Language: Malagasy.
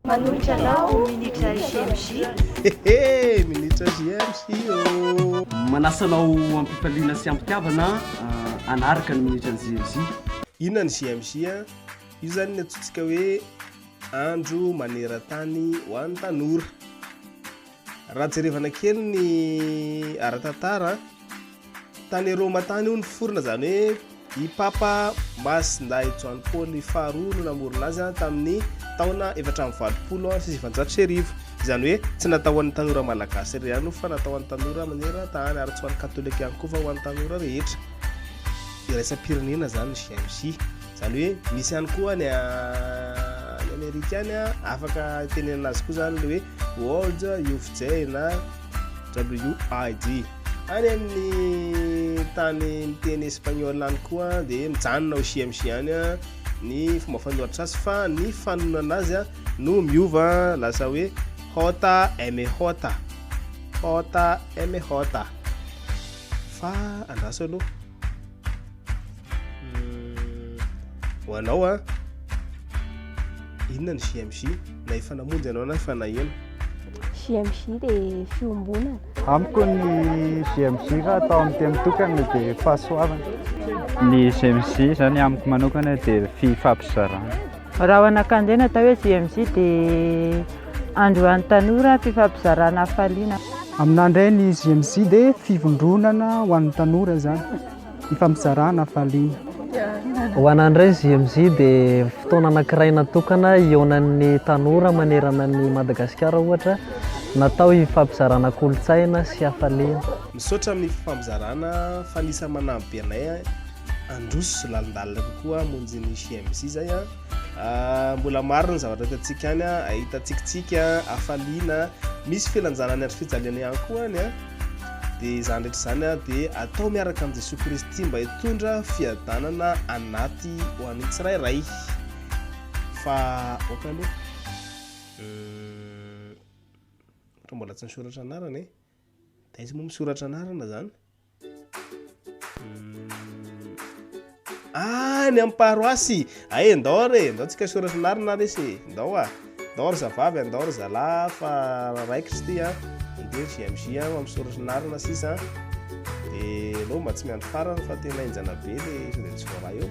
Manohitra anao o minitra JMJ. Hehe, minitra JMJ ô. Manasa anao am-pifaliana sy am-pitiavana hanaraka ny minitra ny JMJ. Inona ny JMJ a? Io zany ny antsointsika hoe andro maneran-tany ho an'ny tanora. Raha jerevana kely ny ara-tantara, tany Roma tany io niforona izany hoe i Papa Masindahy John Paul faharoa no namorona azy tamin'ny taona efatra amby valopolo sy sivanjato sy arivo. Izany hoe tsy natao ho an'ny tanora malagasy irery ihany fa natao ho an'ny tanora maneran-tany ary tsy ho an'ny katolika ihany koa fa ho an'ny tanora rehetra iraisam-pirenena izany ny GMJ. Zany hoe misy ihany koa ny any Amerika any afaka tenenana azy koa zany le hoe World Youth Day na WID. Any amin'ny tany miteny espagnol any koa dia mijanona ho CMC any ny fomba fanoratra azy fa ny fanonana azy no miova lasa hoe hota eme hota hota eme hota fa andraso aloha Hmm, ho anao a inona ny JMJ na efa namonjy anao na efa naheno JMJ dia fiombonana amiko ny JMJ raha atao amin'ny teny tokana dia fahasoavana ny JMJ izany amiko manokana dia fifampizarana Raha ho anakandre natao hoe JMJ dia androany tanora fifampizarana hafaliana. Aminà indray ny JMJ dia fivondronana ho an'ny tanora izany hifampizarana hafaliana. Ho anà indray ny JMJ dia fotoana anankiray natokana hihaonan'ny tanora manerana an'i Madagasikara ohatra natao hifampizarana kolontsaina sy hafaliana. Misaotra amin'ny fifampizarana fa anisany manampy be anay. handroso lalindalina kokoa hamonjy ny JMJ izay a ah, mbola maro ny zavatra hitantsika any a ahita tsikitsiky a hafaliana misy filanjana ny andro fijaliana ihany koa any a dia izany rehetra izany a dia atao miaraka amin'i Jesoa Kristy mba hitondra fiadanana anaty ho an'ny tsirairay fa oka aloha hmm, ohatran'ny mbola tsy nisoratra anarana e De aiza moa misoratra anarana zany? Hmm. Ah, ny amin'ny paroasy. Ay, ah, ndao re, ndao tsika soratra anarana ary se. Ndao ah. Ndao ry zavavy, ndao ry zalahy fa raikitra ty ah. Ndao JMJ ah, amin'ny soratra anarana sisa. De lo mba tsy miandry farany fa tena enjana be le le tsy voaraha eo.